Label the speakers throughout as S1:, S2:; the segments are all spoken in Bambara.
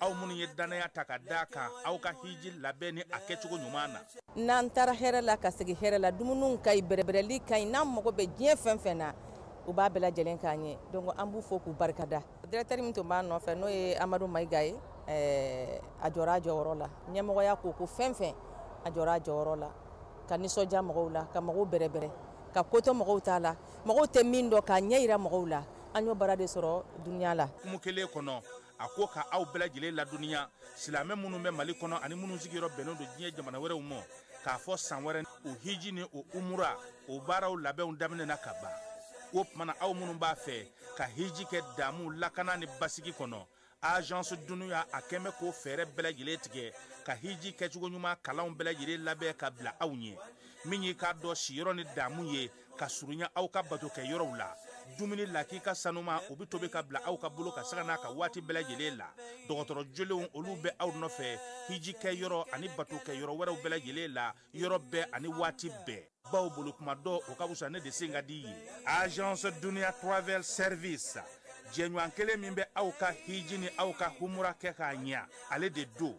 S1: aw minnu ye dannaya ta ka da kan aw ka hiji labɛn ni a kɛcogo ɲuman na n'an taara
S2: hɛrɛ la ka segin hɛrɛ la dumuniw ka ɲi bɛrɛbɛrɛli ka ɲi n'an mago bɛ diɲɛ fɛn fɛn na u b'a bɛɛ lajɛlen k'an ye donc an b'u fo k'u barika da directeur min tun b'a nɔfɛ n'o ye amadu mayiga ye eh, a jɔra a jɔyɔrɔ la ɲɛmɔgɔya ko ko fɛn fɛn a jɔra a jɔyɔrɔ la ka nisɔndiya mɔgɔw la ka mɔgɔw bɛrɛbɛrɛ ka kotɔ mɔgɔw t'a la mɔgɔw tɛ min dɔn k'a ɲɛ yira mɔgɔw la an y'o baara de sɔrɔ duniya la kuma kelen kɔnɔ
S1: a ko ka aw bɛɛ lajɛlen ladɔnniya silamɛ minnu bɛ mali kɔnɔ ani minnu sigiyɔrɔ bɛnnen don diɲɛ jamana wɛrɛw ma k'a fɔ san wɛrɛ o hiji ni o umura o baaraw labɛnw daminɛna ka ban o tuma na aw minnu b'a fɛ ka hiji kɛ damu lakana ni basigi kɔnɔ agence duniya a kɛn bɛ k'o fɛɛrɛ bɛɛ lajɛlen tigɛ ka hiji kɛcogo ɲuman kalanw bɛɛ lajɛlen labɛn ka bila aw ɲɛ min y'i k'a dɔn siyɔrɔ ni damu ye ka surunya aw ka bato kɛ yɔrɔw la dumuni lakika sanuman o bɛ tobi ka bila aw ka bolo kan sanga n'a ka waati bɛɛ lajɛlen la dɔgɔtɔrɔ jolenw olu bɛ aw nɔfɛ hiji kɛ yɔrɔ ani bato kɛ yɔrɔ wɛrɛw bɛɛ lajɛlen la yɔrɔ bɛɛ ani waati bɛɛ bawo bolo kuma dɔn o ka fisa ne de sen ka di ye agence dunia travel service jɛɲɔgɔn kelen min bɛ aw ka hiji ni aw ka humura kɛ k'a ɲɛ ale de don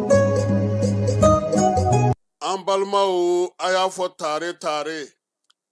S3: an balimaw a y'a fɔ tare tare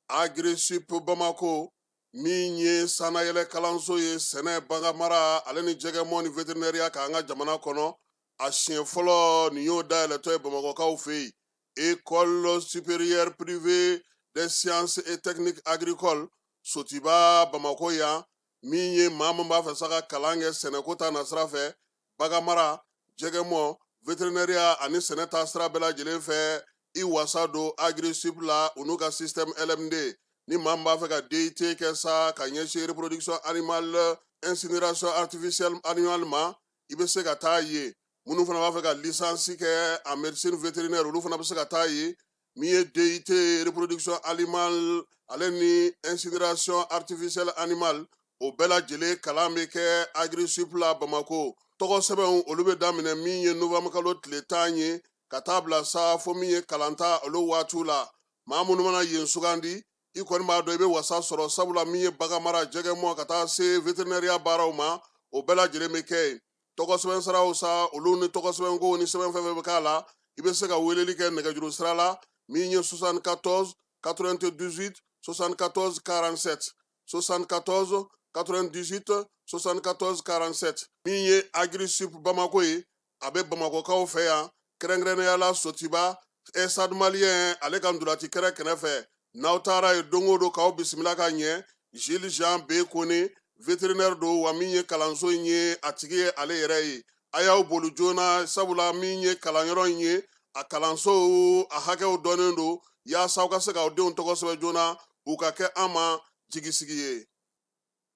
S3: agrisup bamakɔ min ye sannayɛlɛ kalanso ye sɛnɛ baganmara ale ni jɛgɛmɔn ni veterinɛriya kan an ka jamana kɔnɔ a siɲɛ fɔlɔ nin y'o dayɛlɛtɔ ye bamakɔkaw fɛ yen école supérieure privée des sciences et techniques agricoles sotuba bamakɔ yan min ye maa min b'a fɛ sa ka kalan kɛ sɛnɛko ta nasira fɛ baganmara jɛgɛmɔn veterinɛriya ani sɛnɛ ta sira bɛɛ lajɛlen fɛ i wasa don agrisup la u n'u ka système lmd ni maa min b'a fɛ ka dit kɛ sa ka ɲɛsin reproduction animale incinération artificielle animale ma i bɛ se ka taa yen minnu fana b'a fɛ ka licence kɛ en médecine vétérinaire olu fana bɛ se ka taa yen min ye DIT reproduction animale ale ni incinération artificielle animale o bɛɛ lajɛlen kalan bɛ kɛ agrisup la bamako tɔgɔsɛbɛnw olu bɛ daminɛ min ye novembre kalo tile tan ye ka taa bila sa fo min ye kalanta olu waatiw la maa minnu mana yen sugandi i kɔni b'a dɔn i bɛ wasa sɔrɔ sabula min ye baganmara jɛgɛmɔn ka taa se vétérinaire baaraw ma o bɛɛ lajɛlen bɛ kɛ yen tɔgɔ sɛbɛn saraw sa olu ni tɔgɔ sɛbɛn ko ni sɛbɛn fɛn fɛn bɛ k'a la i bɛ se ka weleli kɛ nɛgɛjuru sira la min ye 74 98 74 47 74 98 74 47 min ye agri sup bamako ye a bɛ bamakɔkaw fɛ yan kɛrɛnkɛrɛnnenya la sotiba stade malien ale ka ntolaci kɛrɛ kɛnɛ fɛ n'aw taara ye don o don k'aw bisimila ka ɲɛ jules jean b kone vétérinaire don wa min ye kalanso in ye a tigi ye ale yɛrɛ ye a y'aw boli joona sabula min ye kalanyɔrɔ in ye a kalansow a hakɛw dɔnnen don yaasa aw ka se k'aw denw tɔgɔ sɛbɛn joona u ka kɛ an ma jigisigi ye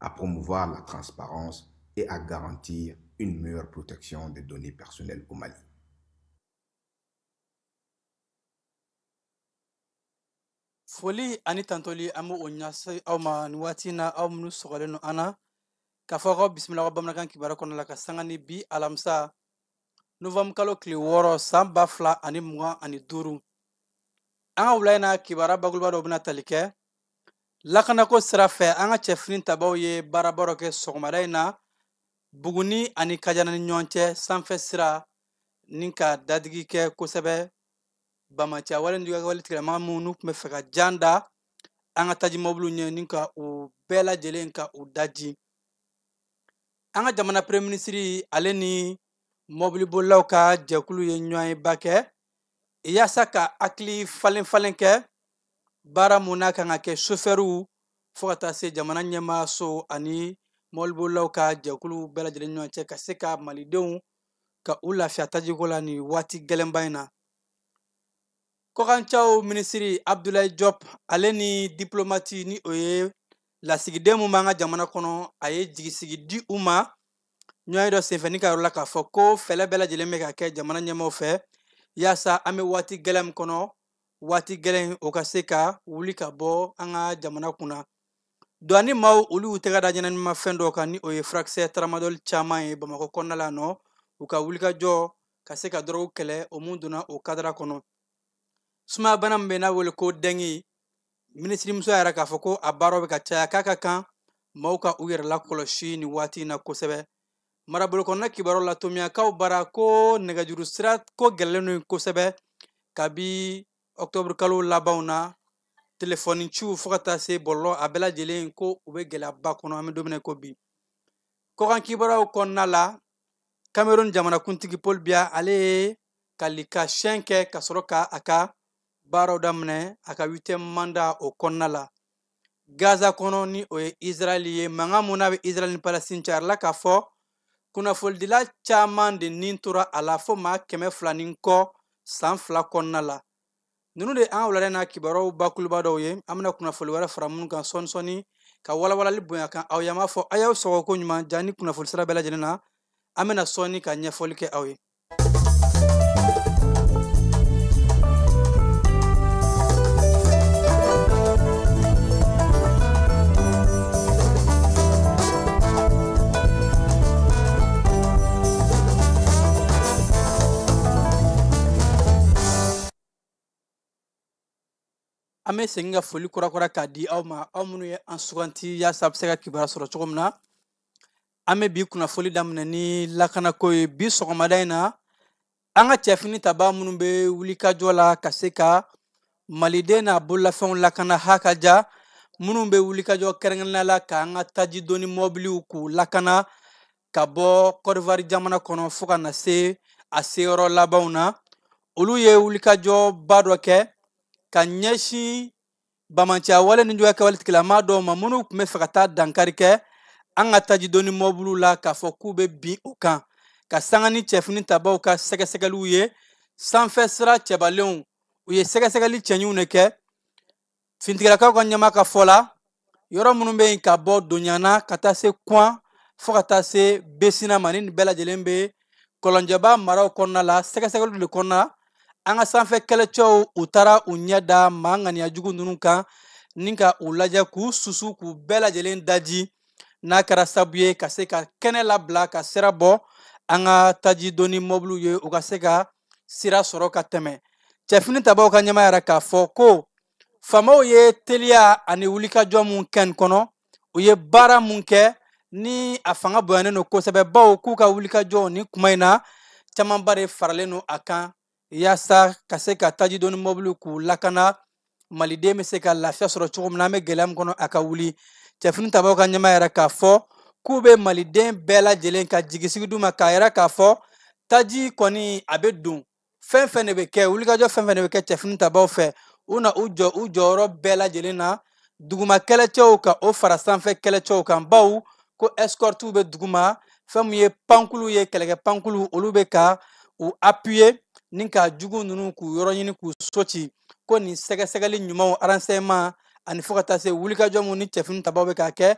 S4: à promouvoir la transparence et à garantir une meilleure protection des données personnelles au Mali.
S5: foli ani tantoli an bɛ o ɲase aw ma nin waati in na aw minnu sɔgɔlen don an na k'aw fo k'aw bisimila aw ka bamanankan kibaru kɔnɔna la ka sanga ni bi alamisa novɛmu kalo tile wɔɔrɔ san ba fila ani mugan ani duuru an ka wula in na kibaruya bakuruba dɔ bɛna tali kɛ lakanako sira fɛ an ka cɛfini tabaw ye baaraba dɔ kɛ sɔgɔmada in na buguni ani kajana ni ɲɔgɔn cɛ sanfɛ sira ni ka dadigi kɛ kosɛbɛ banbaanciya wale ni wale tigilamaa minnu n'u tun bɛ fɛ ka jan da an ka taji mɔbiliw ɲɛ ni ka u bɛɛ lajɛlen ka u daji an ka jamana premier minisiri ale ni mɔbilibolilaw ka jɛkulu ye ɲɔgɔnyeba kɛ yaasa ka hakili falen falen kɛ baara mun n'a kan ka kɛ sofɛriw fo ka taa se jamana ɲɛmaaso ani mɔbilibolilaw ka jɛkulu bɛɛ lajɛlen ɲɔgɔn cɛ ka se ka malidenw ka u lafiya tajiko la nin waati gɛlɛnba in na kɔkanciyaw minisiri abdulayi jɔp ale ni diplomati ni o ye lasigiden min b'an ka jamana kɔnɔ a ye jigisigi di u ma ɲɔgɔnye dɔ senfɛ ni k'a yira u la k'a fɔ ko fɛɛlɛ bɛɛ lajɛlen bɛ ka kɛ jamana ɲɛmaaw fɛ yaasa an bɛ waati gɛlɛn min kɔnɔ waati gɛlɛn o ka se ka wuli ka bɔ an ka jamana kunna duwani maaw olu y'u tɛgɛ da ɲɛnaminimafɛn dɔw kan ni o ye furakisɛ taramadɔli caman ye bamakɔ kɔnɔna la nɔ u ka wulikajɔ ka se ka dɔrɔgu kɛlɛ o mun donna o kadara kɔnɔ sumaya bana min bɛ n'a wele ko dɛngi minisirimuso y'a yira k'a fɔ ko a baaraw bɛ ka caya k'a ka kan maaw ka u yɛrɛ lakɔlɔsi nin waati in na kosɛbɛ marabolokɔnɔna kibaruw la tominyankaw bara ko nɛgɛjuru sira ko gɛlɛyalen don kosɛbɛ kabi ɔktɔburu kalo labanw na telefɔni ciw fo ka taa se bɔlɔlɔ a bɛɛ lajɛlen ko u bɛ gɛlɛyaba kɔnɔ an bɛ don min na ko bi kɔkan kibaruyaw kɔnɔna la cameroun jamanakuntigi paul biya ale ye kali ka siyɛn kɛ ka sɔrɔ ka a ka baaraw daminɛ a ka huitième manda o kɔnɔna la gaza kɔnɔ ni o ye israɛli ye mankan mun n'a bɛ israɛli ni palestine cɛ a yirala k'a fɔ kunnafonidila caman de ni tora a la fo maa kɛmɛ fila ni kɔ san fila kɔnɔna la ninnu de an wulada na kibaruyaw bakuruba dɔw ye an bɛna kunnafoli wɛrɛ fara minnu kan sɔɔni sɔɔni ka walawalali bonya kan aw ye an b'a fɔ a y'aw sɔgɔ ko ɲuman jani kunnafoli sira bɛɛ lajɛlen na an bɛna sɔɔni ka ɲɛfɔli kɛ aw ye an bɛ segin ka foli kurakura k'a di aw ma aw minnu ye an suganti yaasa a bɛ se ka kibaruya sɔrɔ cogo min na an bɛ bi kunnafoli daminɛ ni lakanako ye bi sɔgɔmada in na an ka cɛfini tabaa minnu bɛ wulikajɔ la ka se ka maliden n'a bololafɛnw lakana hakaja minnu bɛ wulikajɔ kɛrɛnkɛrɛnnenya la k'an ka tajidonni mɔbiliw k'u lakana ka bɔ kɔdiwari jamana kɔnɔ fo ka na se a seyɔrɔ labanw na olu ye wulikajɔba dɔ kɛ ka ɲɛsin bamanciya wale nijuguya kɛwale tigilama dɔw ma minnu tun b'a fɛ ka taa dankari kɛ an ka tajidonni mɔbiliw la k'a fɔ k'u bɛ bin u kan ka sanga ni cɛfini tabaw ka sɛgɛsɛgɛliw ye sanfɛ sira cɛbalenw u ye sɛgɛsɛgɛli cɛɲiw de kɛ finitigilakaw ka ɲɛmaa ka fɔ la yɔrɔ minnu bɛ yen ka bɔ donyana ka taa se kuan fɔɔ ka taa se besina ma ni nin bɛɛ lajɛlen be kɔlɔnjɛba maraw kɔnɔna la sɛgɛsɛgɛliw le kɔnɔna an ka sanfɛ kɛlɛcɛw u taara u ɲɛ da maa ŋaniya jugu ninnu kan ni ka u lajɛ k'u susu k'u bɛɛ lajɛlen daji n'a kɛra sabu ye ka se ka kɛnɛ labila ka sira bɔ an ka taji donni mɔbiliw ye u ka se ka sira sɔrɔ ka tɛmɛ cɛfini tabaw ka ɲɛmaa y'a yira k'a fɔ ko famaw ye teliya ani wulikajɔ mun kɛ nin kɔnɔ u ye baara mun kɛ ni a fanga bonyanen don kosɛbɛ baw k'u ka wulikajɔw nin kuma in na camanba de faralen don a kan yaasa ka se ka tajidoni mɔbiliw k'u lakana maliden bɛ se ka lafiya sɔrɔ cogo min na an bɛ gɛlɛya min kɔnɔ a ka wuli cɛfini tabaw ka ɲɛmaa y'a yira k'a fɔ k'u bɛ maliden bɛɛ lajɛlen ka jigisigi d'u ma k'a yira k'a fɔ taji kɔni a bɛ don fɛn fɛn de bɛ kɛ wulikajɔ fɛn fɛn de bɛ kɛ cɛfini tabaw fɛ u na u jɔ u jɔyɔrɔ bɛɛ lajɛlen na duguma kɛlɛcɛw ka o fara sanfɛ kɛlɛcɛw kan baw ko escortiw bɛ duguma fɛn min ye pankuluw ye kɛlɛkɛ pankuluw olu bɛ ka u appuyer ni ka jugu ninnu k'u yɔrɔ ɲini k'u so ci ko nin sɛgɛsɛgɛli ɲumanw renseignement ani fɔɔ ka taa se wulikajɔ mun ni cɛfini tabaw bɛ ka kɛ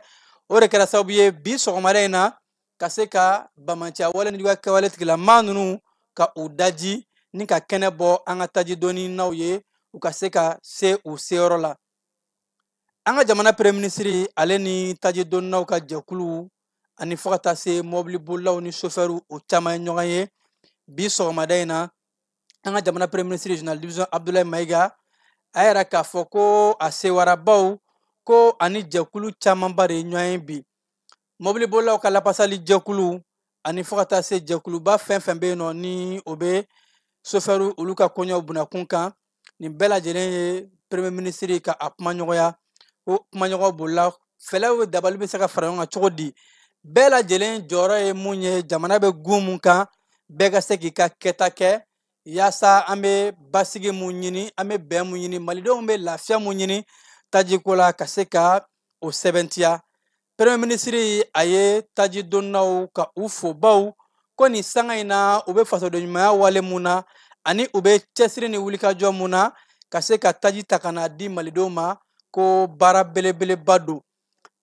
S5: o de kɛra sababu ye bi sɔgɔmada in na ka se ka bamanciya wale nijuguya kɛwale tigilama nunu ka u daji ni ka kɛnɛ bɔ an ka taji donninaw ye u ka se ka se u seyɔrɔ la an ka jamana premier ministre ale ni taji donninaw ka jɛkuluw ani fɔɔ ka taa se mɔbili bolilaw ni sofɛriw o caaman ye ɲɔgɔn ye bi sɔgɔmada in na an ka jamana premier ministre général division abdoulaye mayiga a y'a yira k'a fɔ ko a sewara baw ko a ni jɛkulu camanba de ye ɲɔgɔn ye bi mɔbilibolilaw ka lapasali jɛkulu ani fo ka taa se jɛkuluba fɛn fɛn bɛ yen nɔ ni o bɛ sofɛriw olu ka koɲɛw bunakun kan nin bɛɛ lajɛlen ye premier ministre ka a kumaɲɔgɔnya ko kumaɲɔgɔn bolila fɛlɛw dabali bɛ se ka fara ɲɔgɔn kan cogo di bɛɛ lajɛlen jɔyɔrɔ ye mun ye jamana bɛ gun mun kan bɛɛ ka se k'i ka kɛta kɛ yaasa an bɛ basigi mun ɲini an bɛ bɛn mun ɲini malidenw bɛ lafiya mun ɲini tajiko la ka se ka o sɛbɛntiya premier ministre a ye taji donnaw ka u fo baw ko nin sanga in na u bɛ fasodenɲumanya wale mun na ani u bɛ cɛsiri ni wulikajɔ mun na ka se ka taji ta ka n'a di malidenw ma ko baara belebeleba don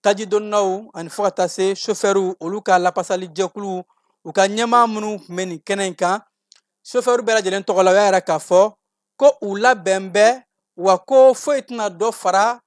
S5: taji donnaw ani fo ka taa se sofɛriw olu ka lapasali jɛkuluw u ka ɲɛmaa minnu tun bɛ nin kɛnɛ in kan sofɛriw bɛɛ lajɛlen tɔgɔ la u y'a yira k'a fɔ ko u labɛn bɛ wa ko foyi tɛna dɔ fara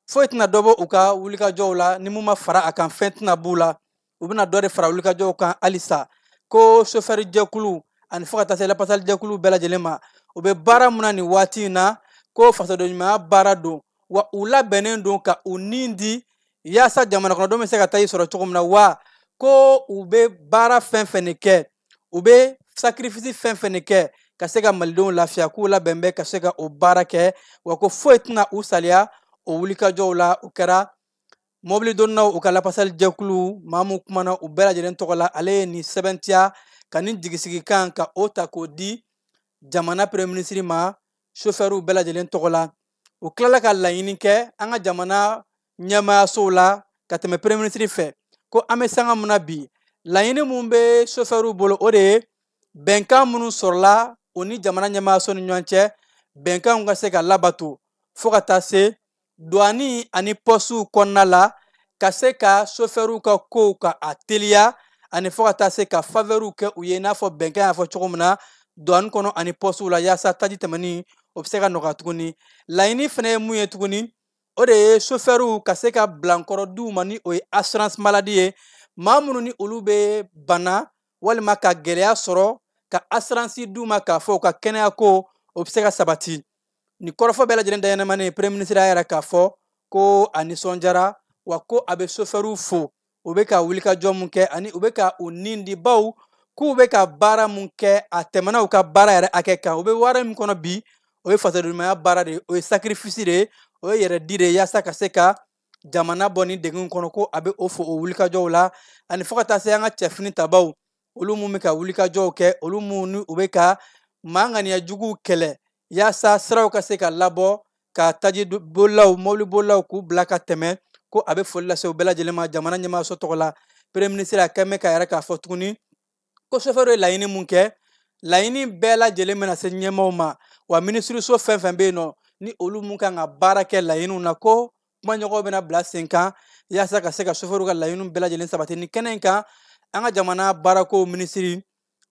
S5: foyi tɛna dɔ bɔ u ka wulikajɔw la ni mun ma fara a kan fɛn tɛna b'u la u bɛna dɔ de fara wulikajɔw kan halisa ko sofɛri jɛkulu ani fo ka taa se lapasali jɛkulu bɛɛ lajɛlen ma u bɛ baara mun na nin waati in na ko fasodenɲumanya baara don wa u labɛnnen don ka u ni di yaasa jamanakɔnɔdenw bɛ se ka taji sɔrɔ cogo min na wa ko u bɛ baara fɛn fɛn de kɛ u bɛ sakirifisi fɛn fɛn de kɛ ka se ka malidenw lafiya k'u labɛn bɛ ka se ka o baara kɛ wa ko foyi tɛna u saliya o wulikajɔw la o kɛra mɔbili donnaw u ka lapasali jɛkulu maa min kumana u bɛɛ lajɛlen tɔgɔ la ale ye nin sɛbɛntiya ka nin jigisigikan ka o ta k'o di jamana premier ministre ma sofɛriw bɛɛ lajɛlen tɔgɔ la u tilala ka laɲini kɛ an ka jamana ɲɛmaayasow la ka tɛmɛ premier ministre fɛ ko an bɛ sanga mun na bi laɲini mun bɛ sofɛriw bolo o de ye bɛnkan minnu sɔrɔla o ni jamana ɲɛmaayaso ni ɲɔgɔn cɛ bɛnkanw ka se ka labato fo ka taa se duwani ani pɔsiw kɔnɔna la ka se ka sofɛriw ka kow ka a teliya ani fo ka taa se ka favɛriw kɛ u ye i n'a fɔ bɛnkan y'a fɔ cogo min na duwani kɔnɔ ani pɔsiw la yaasa taji tɛmɛni o bɛ se ka nɔgɔya tuguni laɲini fana ye mun ye tuguni o de ye sofɛriw ka se ka bilankɔrɔ d'u ma ni o ye assurance maladie ye maa minnu ni olu bɛ bana walima ka gɛlɛya sɔrɔ ka assurance d'u ma k'a fɔ u ka kɛnɛya ko o bɛ se ka sabati nin kɔrɔfɔ bɛɛ lajɛlen dayɛlɛmani premier ministre y'a yira k'a fɔ ko a nisɔndiyara wa ko a bɛ sofɛriw fo u bɛ ka wulikajɔ mun kɛ ani u bɛ ka u ni di baw k'u bɛ ka baara mun kɛ a tɛmɛna u ka baara yɛrɛ hakɛ kan u bɛ wale min kɔnɔ bi o ye fasodenɲumanya baara de ye o ye sakirifisi de ye o ye yɛrɛ di de ye yaasa ka se ka jamana bɔ nin degun kɔnɔ ko a bɛ o fo o wulikajɔw la ani fo ka taa se an ka cɛ finitabaw olu minnu bɛ ka wulikajɔw kɛ olu minnu ni u bɛ ka maa ŋaniya juguw kɛlɛ yaasa siraw ka se ka labɔ ka taji bolilaw mobili bolilaw k'u bila ka tɛmɛ ko a bɛ foli lase u bɛɛ lajɛlen ma jamana ɲɛmaayaso tɔgɔ la premier ministre a tun bɛ k'a yira k'a fɔ tuguni ko sofɛriw ye laɲini mun kɛ laɲini bɛɛ lajɛlen bɛna se ɲɛmaaw ma wa minisiriso fɛn fɛn bɛ yen nɔ ni olu mun kan ka baara kɛ laɲiniw na ko kumaɲɔgɔnw bɛna bila sen kan yaasa ka se ka sofɛriw ka laɲiniw bɛɛ lajɛlen sabati nin kɛnɛ in kan an ka jamana baarakow minisiri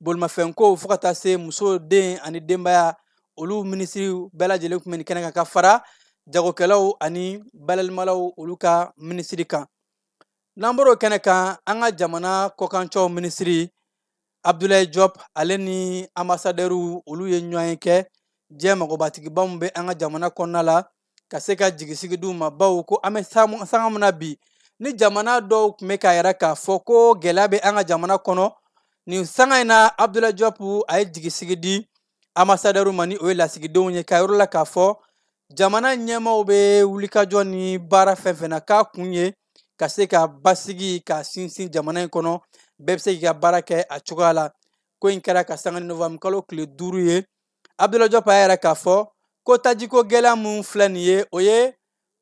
S5: bolimafɛnkow fo ka taa se muso den ani denbaya olu minisiriw bɛɛ lajɛlen tun bɛ nin kɛnɛ kan ka fara jagokɛlaw ani balalimalaw olu ka minisiri kan n'an bɔr'o kɛnɛ kan an ka jamana kɔkancɛw minisiri abdulayi jɔp ale ni anbasadɛriw olu ye ɲɔgɔnye kɛ diɲɛ magobatigiba min bɛ an ka jamana kɔnɔna la ka se ka jigisigi di u ma bawo ko an bɛ sanga min na bi ni jamana dɔw tun bɛ k'a yira k'a fɔ ko gɛlɛya bɛ an ka jamana kɔnɔ nin sanga in na abdulayi jɔp a ye jigisigi di anbasadɛriw ma ni o ye lasigidenw ye k'a yira u la k'a fɔ jamana ɲɛmaaw bɛ wulikajɔ ni baara fɛn fɛn na k'a kun ye ka se ka basigi ka sinsin jamana in kɔnɔ bɛɛ bɛ se k'i ka baara kɛ a cogoya la ko in kɛra ka sanga ni novembre kalo tile duuru ye abudulayi jɔp a y'a yira k'a fɔ ko tajiko gɛlɛya min filɛ nin ye o ye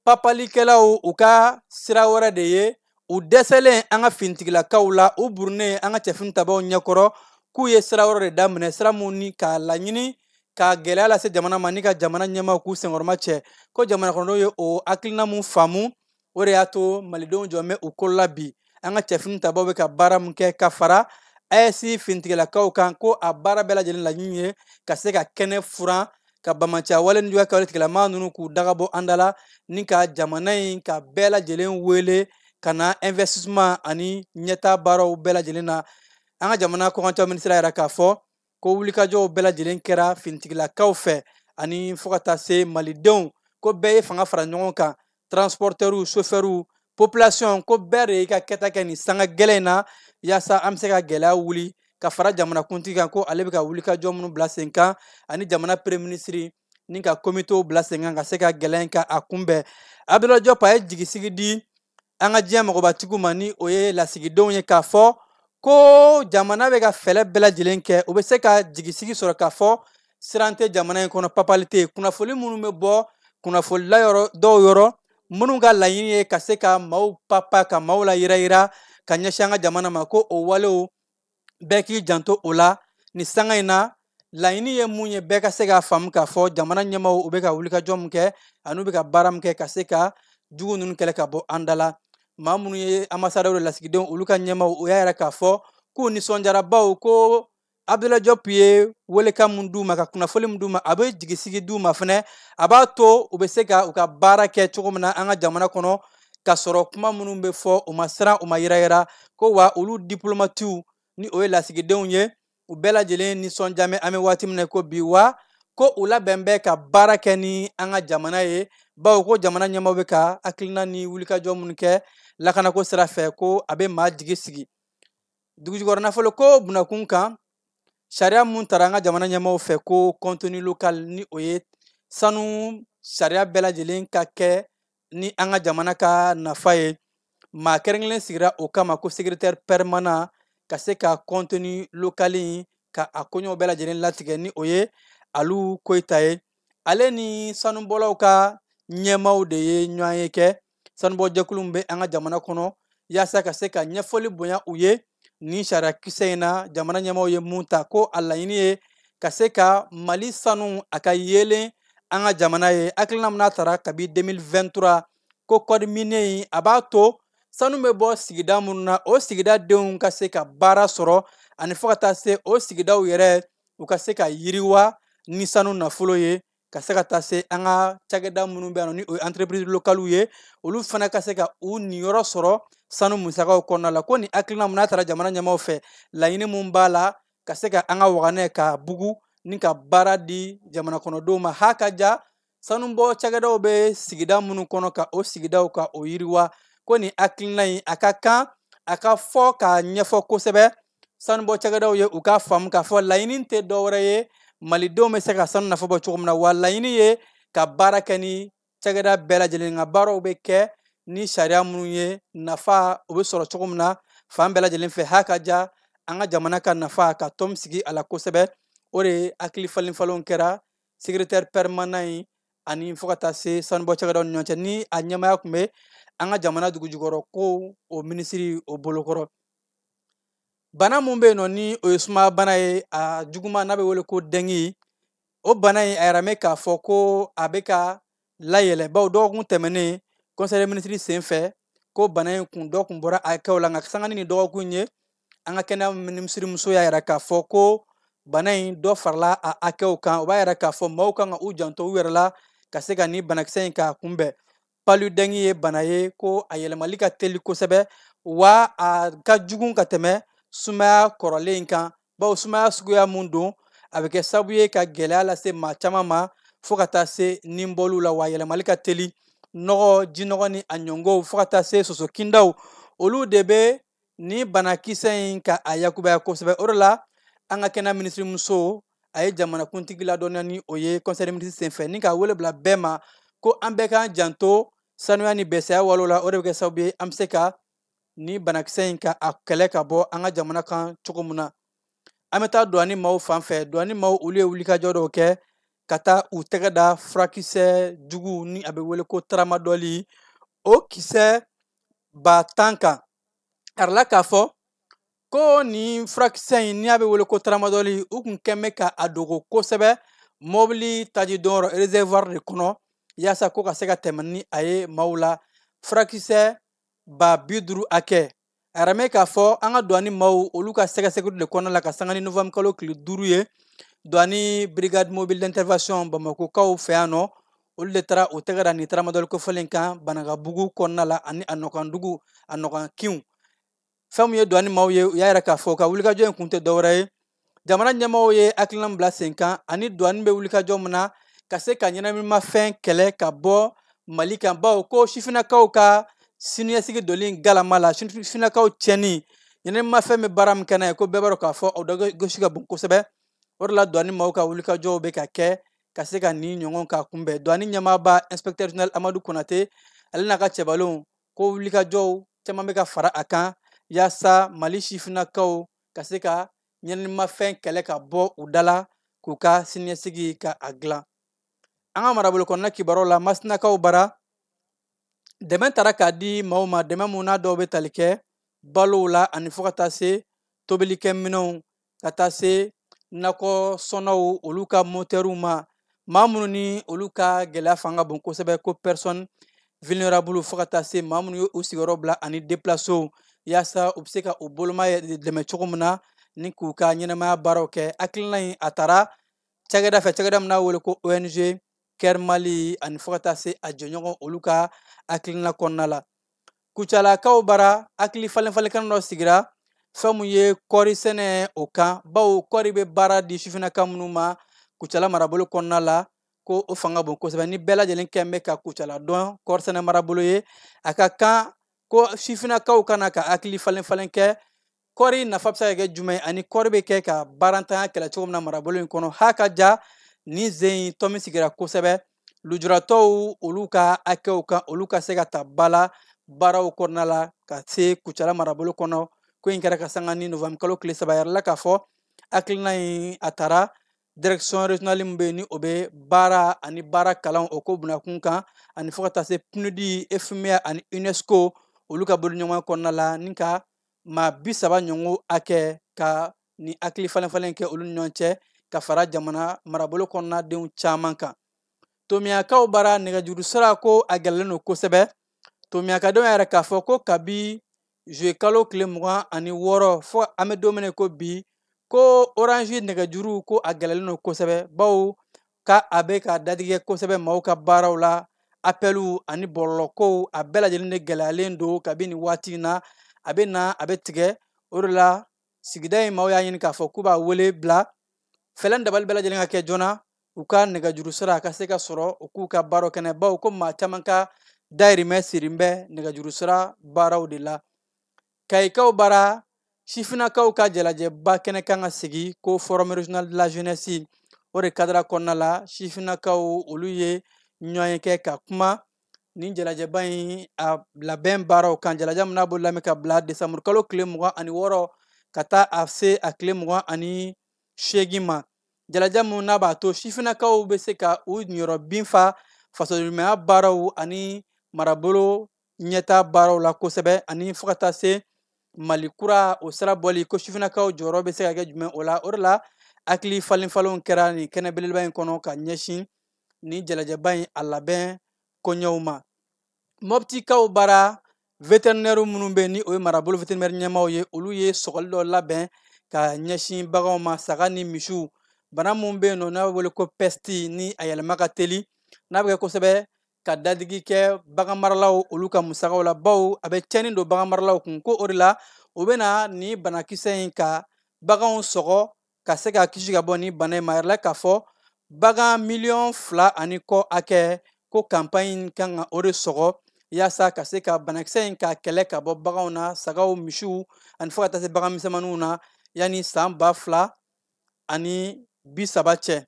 S5: papalikɛlaw u ka sira wɛrɛ de ye u dɛsɛlen an ka finitigilakaw la u burunnen an ka cɛfini tabaw ɲɛkɔrɔ k'u ye sira wɛrɛ de daminɛ sira minnu ni k'a laɲini ka gɛlɛya lase jamana ma ni ka jamana ɲɛmaaw k'u senkɔrɔma cɛ ko jamanakɔnɔdenw ye o hakilina mun faamu o de y'a to malidenw jɔlen bɛ u kolo la bi an ka cɛfini tabaw bɛ ka baara min kɛ ka fara ayɛsi finitigilakaw kan ko a baara bɛɛ lajɛlen laɲini ye ka se ka kɛnɛ furan ka banbaanciya wale nijuguya kɛwale tigilama ninnu k'u dagabɔ an da la ni ka jamana in ka bɛɛ lajɛlen wele ka na investissement ani ɲɛtaa baaraw bɛɛ lajɛlen na an ka jamana kɔkancɛ minisiri y'a yira k'a fɔ ko wulikajɔw bɛɛ lajɛlen kɛra finitigilakaw fɛ ani fo ka taa se malidenw ko bɛɛ ye fanga fara ɲɔgɔn kan transpɔrtɛriw sofɛriw popilasiyɔn ko bɛɛ de y'i ka kɛta kɛ nin sanga gɛlɛn in na yaasa an be se ka gwɛlɛya wuli ka fara jamanakuntigi kan ko ale be ka wulikajɔ minw bila sen kan ani jamana pereminisiri ni ka komitew bila sen kan ka se ka gwɛlɛya in ka a kunbɛn abdulayi jɔp a ye jigisigi di an ka diɲɛ magobatigiw ma ni o ye lasigidenw ye k'a fɔ ko jamana bɛ ka fɛɛrɛ bɛɛ lajɛlen kɛ u bɛ se ka jigisigi sɔrɔ k'a fɔ siran tɛ jamana in kɔnɔ papali tɛ kunnafoni minnu bɛ bɔ kunnafonila yɔrɔ dɔw yɔrɔ minnu ka laɲini ye ka se ka maaw papa ka maaw layirayira ka ɲɛsin an ka jamana ma ko o walew bɛɛ k'i janto o la ni sanga in na laɲini ye mun ye bɛɛ ka se k'a faamu k'a fɔ jamana ɲɛmaaw u bɛ ka wulikajɔ min kɛ an'u bɛ ka baara min kɛ ka se ka jugu ninnu kɛlɛ ka bɔ an da la maa minnu ye ambasadɛriw lasigidenw olu ka ɲɛmaaw u y'a yira k'a fɔ k'u nisɔndiyara bawo ko abdulayi jɔp ye welekan min d'u ma ka kunnafoli min d'u ma a bɛ jigisigi d'u ma fɛnɛ a b'a to u bɛ se ka u ka baara kɛ cogo min na an ka jamana kɔnɔ k'a sɔrɔ kuma minnu bɛ fɔ u ma siran u ma yiranyiran ko wa olu dipulomatiw ni o ye lasigidenw ye u bɛɛ lajɛlen nisɔndiya bɛ an bɛ waati min na ko bi wa ko u labɛn bɛ ka baara kɛ ni an ka jamana ye bawo ko jamana ɲɛmaaw bɛ ka hakilina ni wulikajɔ minnu kɛ lakanako sira fɛ ko a bɛ maa jigi sigi dugujukɔrɔ nafolo ko bunakun kan sariya mun tara an ka jamana ɲɛmaaw fɛ ko contenu local ni o ye sanu sariya bɛɛ lajɛlen ka kɛ ni an ka jamana ka nafa ye maa kɛrɛnkɛrɛnnen sigira o kama ko secrétaire permanent ka se ka contenu local in ka a koɲɛw bɛɛ lajɛlen latigɛ ni o ye alu koyita ye ale ni sanubɔlaw ka ɲɛmaaw de ye ɲɔgɔn ye kɛ sanubɔjɛkulu bɛ an ka jamana kɔnɔ yaasa ka se ka ɲɛfɔli bonya u ye ni sariya kisɛ in na jamana ɲɛmɔgɔw ye mun ta ko a laɲini ye ka se ka mali sanu a ka yeelen an ka jamana ye hakilina min n'a tara kabi 2023 ko code minier in a b'a to sanu bɛ bɔ sigida minnu na o sigida denw ka se ka baara sɔrɔ ani fo ka taa se o sigidaw yɛrɛ u ka se ka yiriwa ni sanu nafolo ye ka se ka taa se an ka cakɛda minnu bɛ yan nɔ ni o ye entreprise localiw ye olu fana ka se ka u niyɔrɔ sɔrɔ sanu musakaw kɔnɔna la ko nin hakilina mun n'a tara jamana ɲɛmaaw fɛ laɲini mun b'a la ka se ka an ka waganɛ ka bugun ni ka baara di jamana kɔnɔdenw ma ha ka ja sanubɔ cakɛdaw bɛ sigida minnu kɔnɔ ka o sigidaw ka o yiriwa ko nin hakilina in a ka kan a ka fɔ k'a ɲɛfɔ kosɛbɛ sanubɔ cakɛdaw ye u k'a faamu k'a fɔ laɲini tɛ dɔwɛrɛ ye malidenw bɛ se ka sanu nafa bɔ cogo min na wa laɲini ye ka baara kɛ ni cakɛda bɛɛ lajɛlen ka baaraw bɛ kɛ ni sariya minnu ye nafa o bɛ sɔrɔ cogo min na fan bɛɛ lajɛlen fɛ ha ka ja an ka jamana ka nafa ka tɔn sigi a la kosɛbɛ o de hakili falenfalenw kɛra secrétaire permanent in ani fo ka taa se sanubɔ cakɛdaw ni ɲɔgɔn cɛ ni a ɲɛmaya tun bɛ an ka jamana dugujukɔrɔ ko o minisiri o bolokɔrɔ bana mun bɛ yen nɔ ni o ye sumaya bana ye a juguman n'a bɛ wele ko dengue o bana in a yiralen bɛ k'a fɔ ko a bɛ ka layɛlɛ bawo dɔgɔkun tɛmɛnen conseil des ministres sen fɛ ko bana in kun dɔ kun bɔra a hakɛw la nka sanga ni dɔgɔkun ye an ka kɛnɛya minisiri muso y'a yira k'a fɔ ko bana in dɔ farala a hakɛw kan o b'a yira k'a fɔ maaw kan ka u janto u yɛrɛ la ka se ka ni banakisɛ in k'a kunbɛn paludɛngi ye bana ye ko a yɛlɛmali ka teli kosɛbɛ wa a ka jugun ka tɛmɛ sumaya kɔrɔlen kan bawo sumaya suguya mun don a bɛ kɛ sabu ye ka gɛlɛya lase maa caman ma fo ka taa se ninbɔliw la wa yɛlɛmali ka teli nɔgɔ jinɔgɔ ni a ɲɔngɔw fo ka taa se soso kindaw olu de bɛ ni banakisɛ in ka a yakubaya kosɛbɛ o de la an ka kɛnɛya minisirimuso a ye jamanakuntigi ladɔnniya ni o ye conseil des ministres senfɛ ni ka wele bila bɛɛ ma ko an bɛɛ k'an janto sanuya ni bɛsɛya walew la o de bɛ kɛ sababu ye an bɛ se ka ni banakisɛ in ka a kɛlɛ ka bɔ an ka jamana kan cogo min na an bɛ taa duwani maaw fan fɛ duwani maaw olu ye wulikajɔ dɔw kɛ ka taa u tɛgɛ da furakisɛ jugu ni a bɛ wele ko taramadɔli o kisɛ ba tan kan a yirala k'a fɔ ko nin furakisɛ in ni a bɛ wele ko taramadɔli u tun kɛn bɛ ka a dogo kosɛbɛ mɔbili tajidon yɔrɔ reservoir de kɔnɔ yaasa ko ka se ka tɛmɛ ni a ye maaw la furakisɛ ba bi duuru hakɛ a yiralen bɛ k'a fɔ an ka duwani maaw olu ka sɛgɛsɛgɛli de kɔnɔna la ka sanga ni novembre kalo tile duuru ye duwani brigade mobile d'intervention bamakokaw fɛ yan nɔ olu de taara u tɛgɛ da nin taramadɔli kofɔlen kan banankabugu kɔnɔna la ani a nɔkandugu a nɔkankinw fɛn min ye duwani maaw ye u y'a yira k'a fɔ u ka wulikajɔ in kun tɛ dɔwɛrɛ ye jamana ɲɛmaaw ye hakilina bila sen kan ani duwani bɛ wulikajɔ min na ka se ka ɲɛnaminimafɛn kɛlɛ ka bɔ mali kan bawo ko sifinnakaw ka siniɲɛsigi doli galama la sifinnakaw tiɲɛni ɲɛnaminimafɛn bɛ baara min kɛ n'a ye ko bɛɛ b'a dɔn k'a fɔ o dɔ gasi ka bon kosɛbɛ o de la duwani maaw ka wulikajɔw bɛ ka kɛ ka se ka nin ɲɔgɔn ka kunbɛn duwani ɲɛmaaba inspecteur general amadu konate ale n'a ka cɛbalenw ko wulikajɔw caman bɛ ka fara a kan yaasa mali sifinnakaw ka se ka ɲɛnaminimafɛn kɛlɛ ka bɔ u da la k'u ka siniɲɛsigi ka a dilan an ka marabolo kɔnɔna kibaruw la masinakaw bara dɛmɛ taara ka di maaw ma dɛmɛ mun n'a dɔw bɛ tali kɛ balow la ani fo ka taa se tobilikɛminɛnw ka taa se nakɔ sɔnnaw olu ka motɛriw ma maa minnu ni olu ka gɛlɛya fanga bon kosɛbɛ ko personne vulnerable fo ka taa se maa minnu ye u sigiyɔrɔ bila ani deplasew yaasa u bɛ se ka u boloma dɛmɛ cogo min na ni k'u ka ɲɛnamaya baaraw kɛ hakilina in a taara cakɛda fɛ cakɛda min n'a wele ko ong care mali ani fo ka taa se a jɛɲɔgɔn olu ka hakilina kɔnɔna la kucalakaw bara hakili falen falen kɛnɛ dɔ sigira fɛn mun ye kɔɔri sɛnɛ o kan bawo kɔɔri bɛ baara di sifinnaka minnu ma kucala marabolo kɔnɔna la ko o fanga bon kosɛbɛ ni bɛɛ lajɛlen kɛn bɛ ka kucala dɔn kɔɔri sɛnɛ marabolo ye a ka kan ko sifinnakaw ka na ka hakili falen falen kɛ kɔɔri nafa bɛ se ka kɛ jumɛn ani kɔɔri bɛ kɛ ka baarantanya kɛlɛ cogo min na marabolo in kɔnɔ ha ka ja ni zen in tomi sigira kosɛbɛ lujuratɔw olu ka hakɛw kan olu ka se ka ta ba la baaraw kɔnɔna la ka se kucala marabolo kɔnɔ ko in kɛra ka sanga ni novembre kalo tile saba a yirala k'a fɔ hakilina in a tara direction regionale min bɛ yen ni o bɛ baara ani baara kalan o ko bunakun kan ani fo ka taa se pnud fma ani unesco olu ka boloɲɔgɔnya kɔnɔna la ni ka maa bi saba ɲɔgɔn hakɛ ka ni hakili falenfalen kɛ olu ɲɔgɔn cɛ ka fara jamana marabolo kɔnɔnadenw caman kan tomiyakaw bara nɛgɛjuru sira ko a gɛlɛlen don kosɛbɛ tomiyakadenw y'a yira k'a fɔ ko kabi zuye kalo tile mugan ani wɔɔrɔ fo an bɛ don min na ko bi ko orange nɛgɛjuru ko a gɛlɛlen don kosɛbɛ bawo ka a bɛ ka dadigi kɛ kosɛbɛ maaw ka baaraw la apɛliw ani bɔlɔlɔkow a bɛɛ lajɛlen de gɛlɛyalen don kabini waati in na a bɛ na a bɛ tigɛ o de la sigida in maaw y'a ɲini k'a fɔ k'u b'a wele bila fɛɛrɛ ni dabali bɛɛ lajɛlen ka kɛ joona u ka nɛgɛjuru sira a ka se ka sɔrɔ u k'u ka baaraw kɛ n'a ye bawo ko maa caman ka dayirimɛ sirin bɛ nɛgɛjuru sira baaraw de la kayikaw bara sifinakaw ka jalajɛba kɛnɛ kan ka sigi ko forum regional de la jeunesse o de kadara kɔnɔna la sifinakaw olu ye ɲɔgɔnye kɛ ka kuma nin jalajɛba in a labɛn baaraw kan jalajɛ min n'a bolodalen ka bila desanburu kalo tile mugan ani wɔɔrɔ ka taa a se a tile mugan ani seegin ma jalajɛ min n'a b'a to sifinakaw bɛ se ka u niyɔrɔ fin fa fasoɲumanya baaraw ani marabolo ɲɛtaa baaraw la kosɛbɛ ani fo ka taa se mali kura o sira bɔli ko sifinakaw jɔyɔrɔ bɛ se ka kɛ jumɛn o la o de la hakili falenfalenw kɛra nin kɛnɛ belebeleba in kɔnɔ ka ɲɛsin nin jalajɛba in a labɛn koɲɛw ma mɔptikaw bara veterinɛriw minnu bɛ ni o ye marabolo veterinɛri ɲɛmaaw ye olu ye sɔgɔli dɔ labɛn ka ɲɛsin baganw ma saga ni misiw bana min bɛ yen nɔ n'a bɛ wele ko pɛsti ni a yɛlɛma ka teli n'a bɛ kɛ kosɛbɛ ka dadigi kɛ bagan maralaw olu ka musagaw la baw a bɛ cɛnni don bagan maralaw kun ko o de la u bɛna ni banakisɛ in ka baganw sɔgɔ ka se ka kisi ka bɔ ni bana in ma a yirala k'a fɔ bagan miliyɔn fila ani kɔ hakɛ ko kanpaɲi in kan ka o de sɔgɔ yaasa ka se ka banakisɛ in ka kɛlɛ ka bɔ baganw na sagaw misiw ani fo ka taa se bagan misɛnmaninw na yanni san ba fila ani bi saba cɛ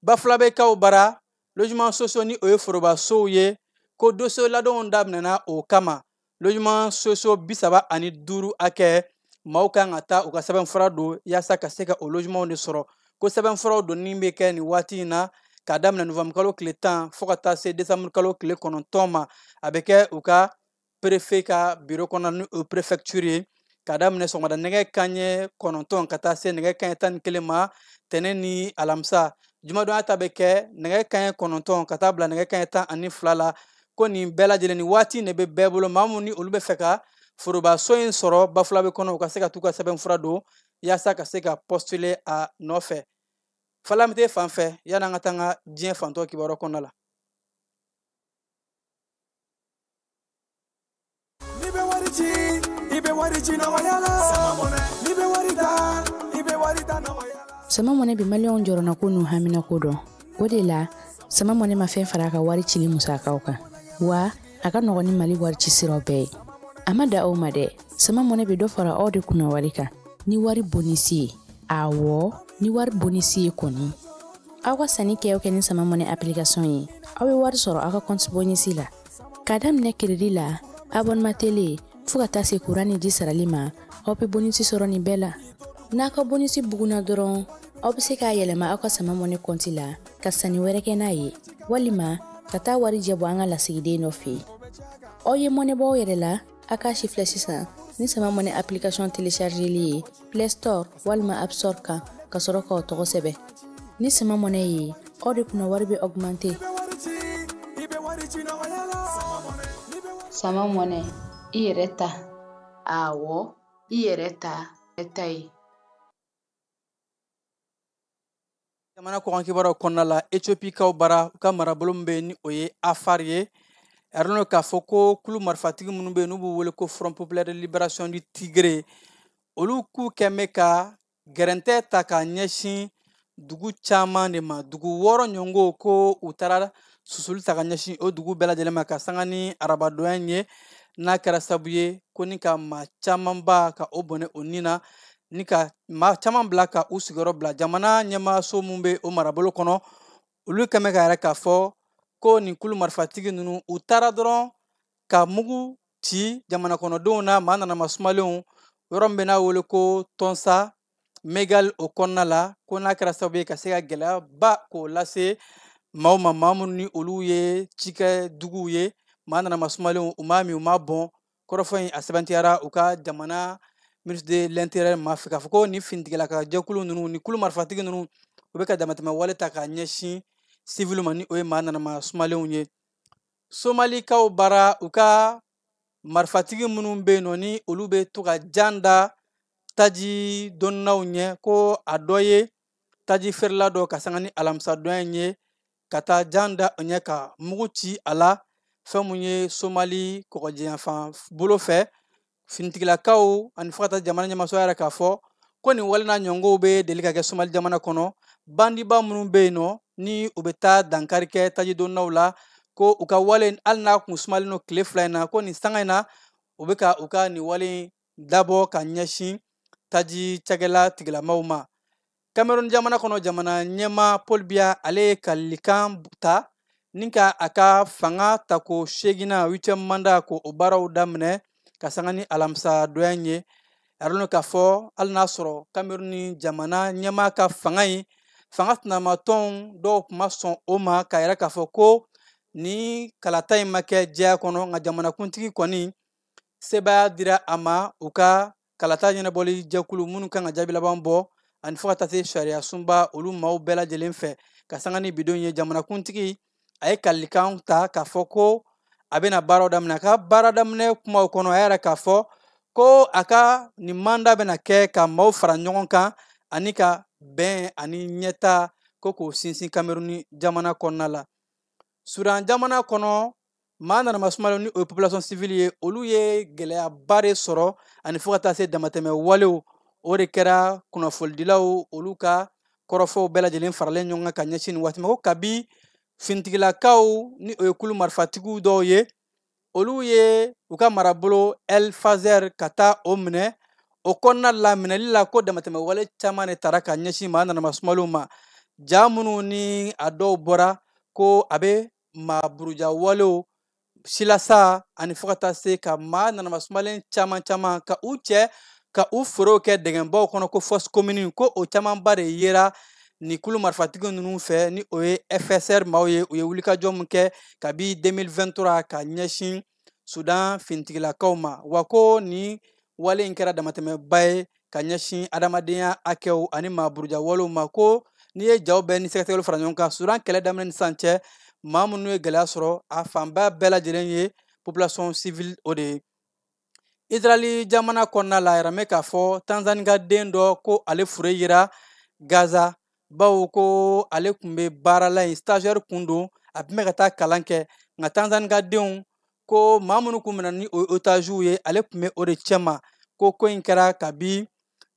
S5: bafulabɛkaw bara logement sociaux ni o ye forobasow ye ko dossier ladonw daminɛna o kama logement sociaux bisaba ani duuru hakɛ maaw kan ka taa u ka sɛbɛnfura don yaasa ka se ka o logementw de sɔrɔ ko sɛbɛnfuraw donni bɛ kɛ nin waati in na k'a daminɛ novanburukalo tile tan fo ka taa se desanburukalo tile kɔnɔntɔn ma a bɛ kɛ u ka perefe ka biro kɔnɔ ni o prefɛktiri ye k'a daminɛ sɔgɔmada nɛgɛ kanɲɛ kɔnɔntɔn ka taa se nɛgɛ kanɲɛ tan ni kelen ma tɛnɛ ni alamisa jumadonya ta bɛ kɛ nɛgɛ kanɲɛ kɔnɔntɔn ka taa bila nɛgɛ kanɲɛ tan ani fila la ko nin bɛɛ lajɛlen ni waati ne bɛ bɛɛ bolo maa mun ni olu b'a fɛ ka forobaso in sɔrɔ bafulabe kɔnɔ u ka se ka t'u ka sɛbɛnfura don yaasa ka se ka pɔstule a nɔfɛ falamite fan fɛ yan'an ka taa an ka diɲɛ fantɔ kibaruya kɔnɔna la
S6: sama mɔnɛ bi maliyɛnw jɔrɔnanko n'u haminanko dɔn o de la sama mɔnɛ ma fɛn fara a ka wari cili musakaw kan wa a ka nɔgɔn ni mali wari ci siraw bɛɛ ye a ma dan o ma dɛ sama mɔnɛ bɛ dɔ fara aw de kunna wari kan ni wari bonisi ye awɔ ni wari bonisi ye kɔni aw ka sanni kɛ o kɛ ni sama mɔnɛ application ye aw bɛ wari sɔrɔ aw ka compte bonus la k'a daminɛ crédit la abonnement télé fo ka taa se kuran ni ji sarali ma aw bɛ bonus sɔrɔ nin bɛɛ la n'aw ka bonus bugunna dɔrɔn aw bɛ se k'a yɛlɛma aw ka sama mɔnɛ compte la ka sanni wɛrɛ kɛ n'a ye walima ka taa warijɛ bɔ an ka lasigiden dɔ fɛ yen aw ye mɔnɛ bɔ aw yɛrɛ la A k'a sifilɛ sisan ni sama mɔnɛ application téléchargeli ye Play Store walima App Store kan ka sɔrɔ k'aw tɔgɔ sɛbɛn ni sama mɔnɛ ye aw de kunna wari bɛ
S7: augmenter sama mɔnɛ i yɛrɛ ta awɔ i yɛrɛ ta ta ye
S5: jamana kɔkan kibaruyaw kɔnɔna la etiopikaw bara u ka marabolo min bɛ yen ni o ye afar ye a yirala k'a fɔ ko kulu marifatigi minnu bɛ yen n'u b'u wele ko front populaire de libération du tigré olu k'u kɛn bɛ ka gɛrɛntɛ ta ka ɲɛsin dugu caman de ma dugu wɔɔrɔ ɲɔgɔn ko u taara susuli ta ka ɲɛsin o dugu bɛɛ lajɛlen ma ka sanga ni arabadonya ye n'a kɛra sabu ye ko ni ka maa camanba ka o bɔnɛ o ni na ni ka maa caman bila ka u sigiyɔrɔ bila jamana ɲɛmaaso min bɛ o marabolo kɔnɔ olu kɛn bɛ k'a yira k'a fɔ ko nin kulu marifatigi ninnu u taara dɔrɔn ka mugu ci jamana kɔnɔdenw na maa nana masumalenw yɔrɔ min bɛ n'a wele ko tonsa megale o kɔnɔna la ko n'a kɛra sababu ye ka se ka gɛlɛyaba k'o lase maaw ma maa minnu ni olu ye cikɛ duguw ye maa nana masumalenw u m'a min u m'a bɔn kɔrɔfɔ in a sɛmɛntiyara u ka jamana ministre de l'intérieur ma fɛ k'a fɔ ko nin finitigilaka jɛkulu ninnu ni kulu marifatigi ninnu u bɛ ka damatɛmɛ wale ta k'a ɲɛsin sivili ma ni o ye maa nanama sumalenw ye somalikaw bara u ka marifatigi minnu bɛ yen nɔ ni olu bɛ to ka jan da taji doninaw ɲɛ ko a dɔ ye taji feerela dɔ ka sanga ni alamisadonya in ye ka taa jan da o ɲɛ ka mugu ci a la fɛn mun ye somali kɔgɔji yanfan bolo fɛ finitigilakaw ani fo ka taa jamana ɲɛmaso y'a yira k'a fɔ ko nin wale n'a ɲɔgɔnw bɛ deli ka kɛ somali jamana kɔnɔ bandiba minnu bɛ yen nɔ ni u bɛ taa dankari kɛ tajidonnaw la ko u ka wale hali n'a kun sumalen don tile fila in na ko nin sanga in na u bɛ ka u ka nin wale dabɔ ka ɲɛsin taji cakɛla tigilamaw ma cameroun jamana kɔnɔ jamana ɲɛma paul biya ale ye kalilikan ta ni ka a ka fanga tako segina huitième manda ko o baaraw daminɛ ka sanga ni alamisa don yan ye a dɔn k'a fɔ hali n'a sɔrɔ cameroun jamana ɲɛma ka fanga in fanga sinamatɔnw dɔw tun ma sɔn o ma k'a yira k'a fɔ ko nin kalata in ma kɛ jɛya kɔnɔ nka jamanakuntigi kɔni sebaaya dira a ma u ka kalata ɲɛnabɔli jɛkulu minnu kan ka jaabi laban bɔ ani fo ka taa se sariya sunba olu maaw bɛɛ lajɛlen fɛ ka sanga ni bi don ye jamanakuntigi a ye kalilikan ta k'a fɔ ko a bɛna baaraw daminɛ a ka baara daminɛ kumaw kɔnɔ a y'a yira k'a fɔ ko a ka nin manda bɛna kɛ ka maaw fara ɲɔgɔn kan ani ka bɛn ani ɲɛtaa ko k'o sinsin kameruni jamana kɔnɔna la sudan jamana kɔnɔ maa nanama sumalenw ni o ye population civile ye olu ye gɛlɛyaba de sɔrɔ ani fo ka taa se damatɛmɛ walew o de kɛra kunnafolidilaw olu ka kɔrɔfɔw bɛɛ lajɛlen faralen ɲɔgɔn kan ka ɲɛsin nin waati ma ko kabi finitigilakaw ni o ye kulu marifatigiw dɔw ye olu ye u ka marabolo el fasher ka taa o minɛ o kɔnɔna la minɛli la ko damatɛmɛ wale caman de tara ka ɲɛsin maa nanama sumalenw ma ja minnu ni a dɔw bɔra ko a bɛ maa buruja walew silasa ani fo ka taa se ka maa nanama sumalen caman caman ka u cɛ ka u furew kɛ dingɛbaw kɔnɔ ko fosse commune ko o camanba de yera nin kulu marifatigi ninnu fɛ ni o ye fsr maaw ye u ye wulikajɔ min kɛ kabi 2023 ka ɲɛsin sudan finitigilakaw ma wa ko nin wale in kɛra damatɛmɛba ye ka ɲɛsin adamadenya hakɛw ani maaburuja walew ma ko n'i ye jaw bɛɛ ni sɛgɛsɛgɛliw fara ɲɔgɔn kan sudan kɛlɛ daminɛ ni sisan cɛ maa minnu ye gɛlɛya sɔrɔ a fanba bɛɛ lajɛlen ye population civile o de ye israɛli jamana kɔnɔna la a yiralen bɛ k'a fɔ tanzani ka den dɔ ko ale fure yera gaza bawo ko ale tun bɛ baara la yen stagiaire kun don a tun bɛ ka taa kalan kɛ nka tanzani ka denw ko maa minnu kun minɛna ni o ye otaziw ye ale tun bɛ o de cɛma ko ko in kɛra kabi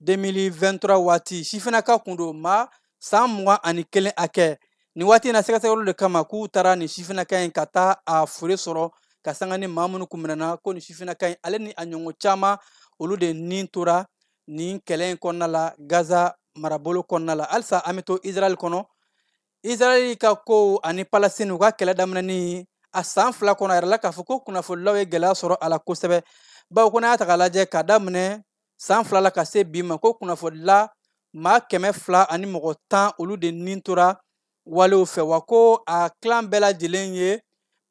S5: 2023 waati sifinaka kun don maa san mugan ani kelen hakɛ nin waati in na sɛgɛsɛgɛliw de kama k'u taara nin sifinaka in ka taa a fure sɔrɔ ka sanga ni maa minnu kun minɛna ko nin sifinaka in ale ni a ɲɔgɔn caman olu de ni tora nin kɛlɛ in kɔnɔna la gaza marabolo kɔnɔna la halisa an bɛ to israɛl kɔnɔ israɛl ka kow ani palestine u ka kɛlɛ daminɛni a san fila kɔnɔ a yirala k'a fɔ ko kunnafonidilaw ye gɛlɛya sɔrɔ a la kosɛbɛ bawo ko n'a y'a ta k'a lajɛ ka daminɛ san fila la ka se bi ma ko kunnafonidila maa kɛmɛ fila ani mɔgɔ tan olu de ni tora walew fɛ wa ko a tilan bɛɛ lajɛlen ye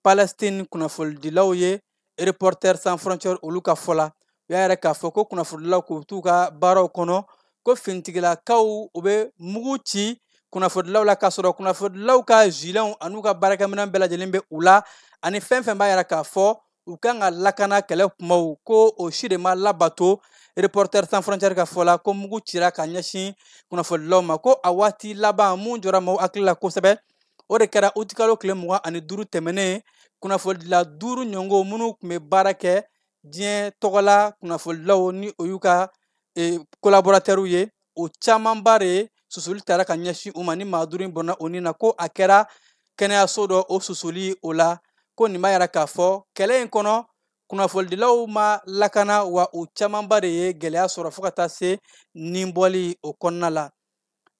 S5: palestine kunnafonidilaw ye reporters sans frontières olu ka fɔ la u y'a yira k'a fɔ ko kunnafonidilaw k'u t'u ka baaraw kɔnɔ ko finitigilakaw u bɛ mugu ci kunnafonidilaw la k'a sɔrɔ kunnafonidilaw ka gilets an'u ka baarakɛminɛn bɛɛ lajɛlen bɛ u la ani fɛn fɛn b'a yira k'a fɔ u kan ka lakana kɛlɛ kumaw ko o si de ma labato reporters sans frontières ka fɔ la ko mugu cira ka ɲɛsin kunnafonidilaw ma ko a waati laban mun jɔra maaw hakili la kosɛbɛ o de kɛra utikalo tile mugan ani duuru tɛmɛnen kunnafonidila duuru ɲɔngo minnu tun bɛ baara kɛ diɲɛ tɔgɔla kunnafonidilaw ni o y'u ka collaborateurs ye o camanba de susuli tara ka ɲɛsin u ma ni maa duuru in bɔnna o ni na ko a kɛra kɛnɛyaso dɔ o susuli o la ko nin b'a yira k'a fɔ kɛlɛ in kɔnɔ kunnafonidilaw ma lakana wa u camanba de ye gɛlɛya sɔrɔ fo ka taa se nin bɔli o kɔnɔna la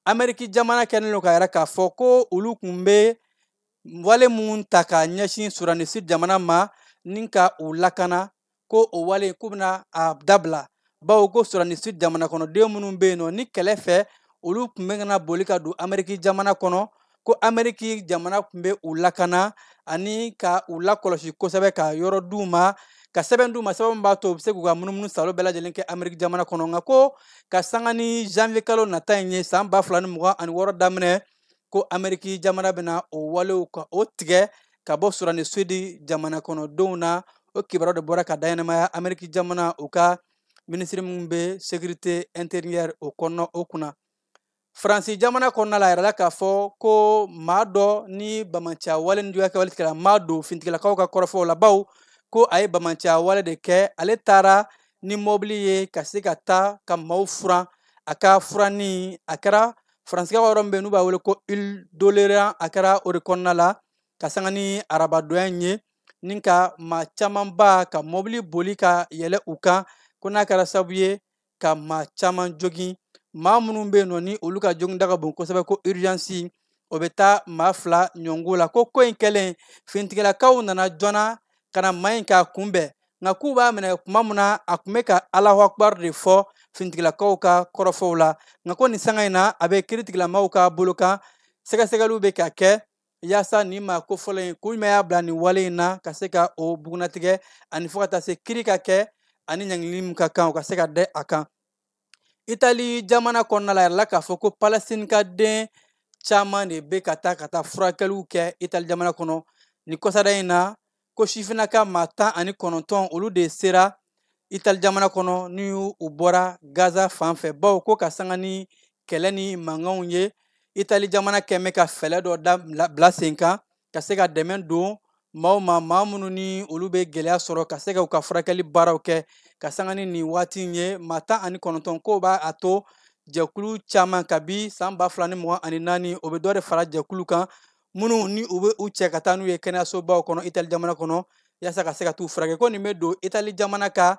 S5: ameriki jamana kɛlen don k'a yira k'a fɔ ko olu tun bɛ wale mun ta ka ɲɛsin sudani sudi jamana ma ni ka u lakana ko o wale k'u bɛna a dabila bawo ko sudani sudi jamana kɔnɔden minnu bɛ yen nɔ ni kɛlɛ fɛ olu tun bɛ ka na boli ka don ameriki jamana kɔnɔ ko ameriki jamana tun bɛ u lakana ani ka u lakɔlɔsi kosɛbɛ ka yɔrɔ d'u ma ka sɛbɛn d'u ma sɛbɛn min b'a to u bɛ se k'u ka munumunu saalo bɛɛ lajɛlen kɛ ameriki jamana kɔnɔ nka ko ka sanga ni janvier kalo nata in ye san ba fila ni mugan ani wɔɔrɔ daminɛ ko ameriki jamana bɛna o walew ka o tigɛ ka bɔ sudani sudi jamana kɔnɔdenw na o kibaruya de bɔra ka daɲɛnamaya ameriki jamana u ka minisiri min bɛ sécurité intérieure o kɔnɔ o kunna faransi jamana kɔnɔna la a yirala k'a fɔ ko maa dɔ ni bamanciya wale ni juguya kɛwale tigilamaa don fintigilakaw ka kɔrɔfɔw la bawo ko a ye bamanciya wale de kɛ ale taara ni mɔbili ye ka se ka taa ka maaw furan a ka furanni a kɛra faransi ka yɔrɔ min bɛ n'u b'a wele ko île d'oléron a kɛra o de kɔnɔna la ka sanga ni arabadonya in ye ni ka maa camanba ka mɔbili boli ka yɛlɛ u kan ko n'a kɛra sabu ye ka maa caman jogin maa minnu bɛ yen nɔ ni olu ka joginda ka bon kosɛbɛ ko urgence o bɛ taa maa fila ɲɔngo la ko ko in kɛlen fintigilakaw nana joona ka na maa in k'a kunbɛn nka k'u b'a minɛ kuma min na a tun bɛ ka allahu akbar de fɔ finitigilakaw ka kɔrɔfɔw la nka ko nin sanga in na a bɛ kiri tigilamaaw ka bolo kan sɛgɛsɛgɛliw bɛ ka kɛ yaasa nin maa kofɔlen in kun jumɛn y'a bila nin wale in na ka se ka o bugunnatigɛ ani fo ka taa se kiri ka kɛ ani ɲangili min ka kan o ka se ka dɛ a kan itali jamana kɔnɔna la yirala k'a fɔ ko palestine ka den caman de bɛ ka taa ka taa furakɛliw kɛ itali jamana kɔnɔ nin kɔsada in na ko sifinnaka maa tan ani kɔnɔntɔn olu de sera itali jamana kɔnɔ ni u bɔra gaza fan fɛ bawo ko ka sanga ni kɛlɛ ni mankanw ye itali jamana kɛmɛ ka fɛɛlɛ dɔ da bila sen kan ka se ka dɛmɛ don maaw ma maa minnu ni olu bɛ gɛlɛya sɔrɔ ka se ka u ka furakɛli baaraw kɛ ka sanga ni nin waati in ye maa tan ani kɔnɔntɔn k'o b'a to jɛkulu caman kabi san ba fila ni mugan ani naani o bɛ dɔ de fara jɛkulu kan minnu ni u bɛ u cɛ ka taa n'u ye kɛnɛyasobaw kɔnɔ itali jamana kɔnɔ yaasa ka se ka t'u furakɛ ko nin bɛ don itali jamana ka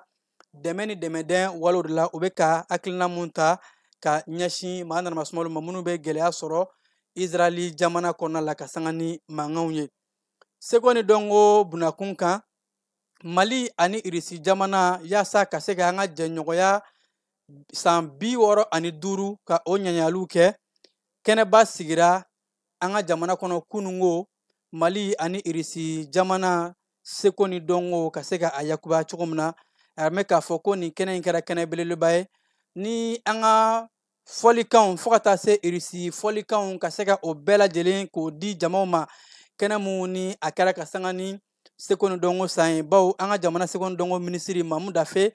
S5: dɛmɛ ni dɛmɛdɛn walew de la u bɛ ka hakilina mun ta ka ɲɛsin maa nanamasumalu ma minnu bɛ gɛlɛya sɔrɔ israɛli jamana kɔnɔna la ka sanga ni mankanw ye seko ni dɔnko bunakun kan mali ani irisi jamana yaasa ka se ka an ka jɛɲɔgɔnya san bi wɔɔrɔ ani duuru ka o ɲaɲaliw kɛ kɛnɛba sigira an ka jamana kɔnɔ kunun ko mali ani irisi jamana seko ni dɔnko ka se ka a yakubaya cogo min na a bɛ k'a fɔ ko nin kɛnɛ in kɛra kɛnɛ belebeleba ye ni an ka fɔlikanw fo ka taa se irisi fɔlikanw ka se ka o bɛɛ lajɛlen k'o di jamaw ma kɛnɛ mun ni a kɛra ka sanga ni seko ni dɔnko san ye bawo an ka jamana seko ni dɔnko minisiri mamu dafe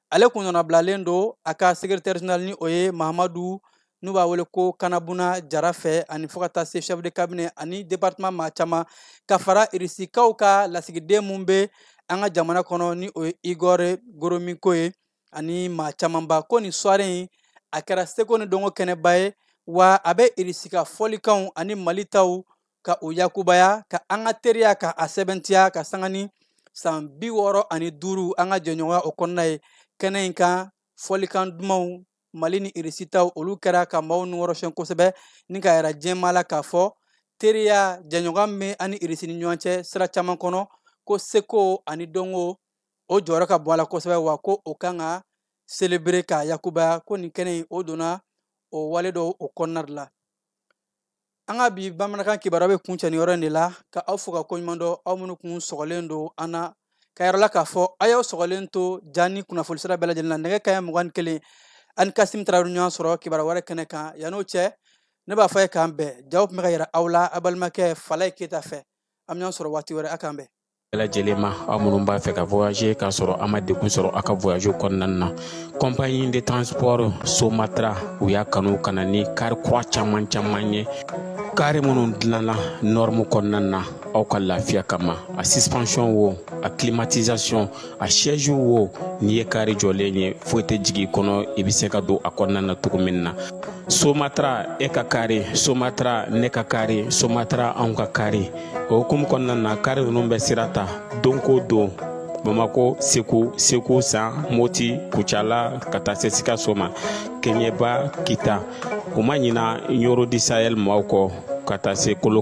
S5: ale kun nɔnabilalen don a ka secrétaire général ni o ye mahamadu n'u b'a wele ko kanabuna jara fɛ ani fo ka taa se chef de cabinet ani departement maa caman ka fara irisikaw ka lasigiden mun be an ka jamana kɔnɔ ni o ye igor goromiko ye ani maa camanba ko nin soirée in a kɛra seko ni dɔnko kɛnɛba ye wa a be irisika fɔlikanw ani mali taw ka o yakubaya ka an ka teriya ka a sɛbɛntiya ka sanga ni san bi wɔɔrɔ ani duuru an ka jɛɲɔgɔnya o kɔnɔna ye kɛnɛ in kan fɔlikan dumanw mali ni irisi taw olu kɛra ka maaw nukɔrɔsiyɛn kosɛbɛ ni k'a yira jɛma la k'a fɔ teriya jɛɲɔgɔnya bɛ an ni irisi ni ɲɔgɔn cɛ sira caman kɔnɔ ko seko ani dɔnko o jɔyɔrɔ ka bon a la kosɛbɛ wa ko o kan ka selebere k'a yakubaya ko nin kɛnɛ in o donna o wale dɔw o kɔnɔna de la an ka bi bamanankan kibaruya bɛ kuncɛ nin yɔrɔ in de la ka aw fo ka koɲuman dɔn aw minnu kun sɔgɔlen don an na k'a yira aw la k'a fɔ a y'aw sɔgɔlen to ja ni kunnafoni sira bɛɛ lajɛlen na nɛgɛ kaɲɛ mugan ni kelen aw ni kasim tarawele ɲɔgɔn sɔrɔ kibaruya wɛrɛ kɛnɛ kan yann'o cɛ ne b'a fɔ a ye k'an bɛn jaw tun bɛ ka yira aw la a balimakɛ falaye keyita fɛ an bɛ ɲɔgɔn sɔrɔ waati wɛrɛ a k'an bɛn bɛɛ lajɛlen ma
S8: aw minnu b'a fɛ ka voyager k'a sɔrɔ a ma degun sɔrɔ a ka voyage kɔnɔna na compagnie de transport somatra u y'a kanu ka na ni kari kura caman caman ye kari minnu dilanna norme kɔnɔna na aw ka lafiya kama a suspension wo a climatisation a siège wo n'i ye kari jɔlen ye foyi tɛ jigi i kɔnɔ i bɛ se ka don a kɔnɔna na cogo min na somatra e ka kari somatra ne ka kari somatra anw ka kari o hukumu kɔnɔna na kari ninnu bɛ sira ta don ko don bamakɔ segu segu san moti kucala ka taa se sikaso ma keɲɛba kita u ma ɲina ɲɔrɔ du sahel maaw kɔ ka taa se kolo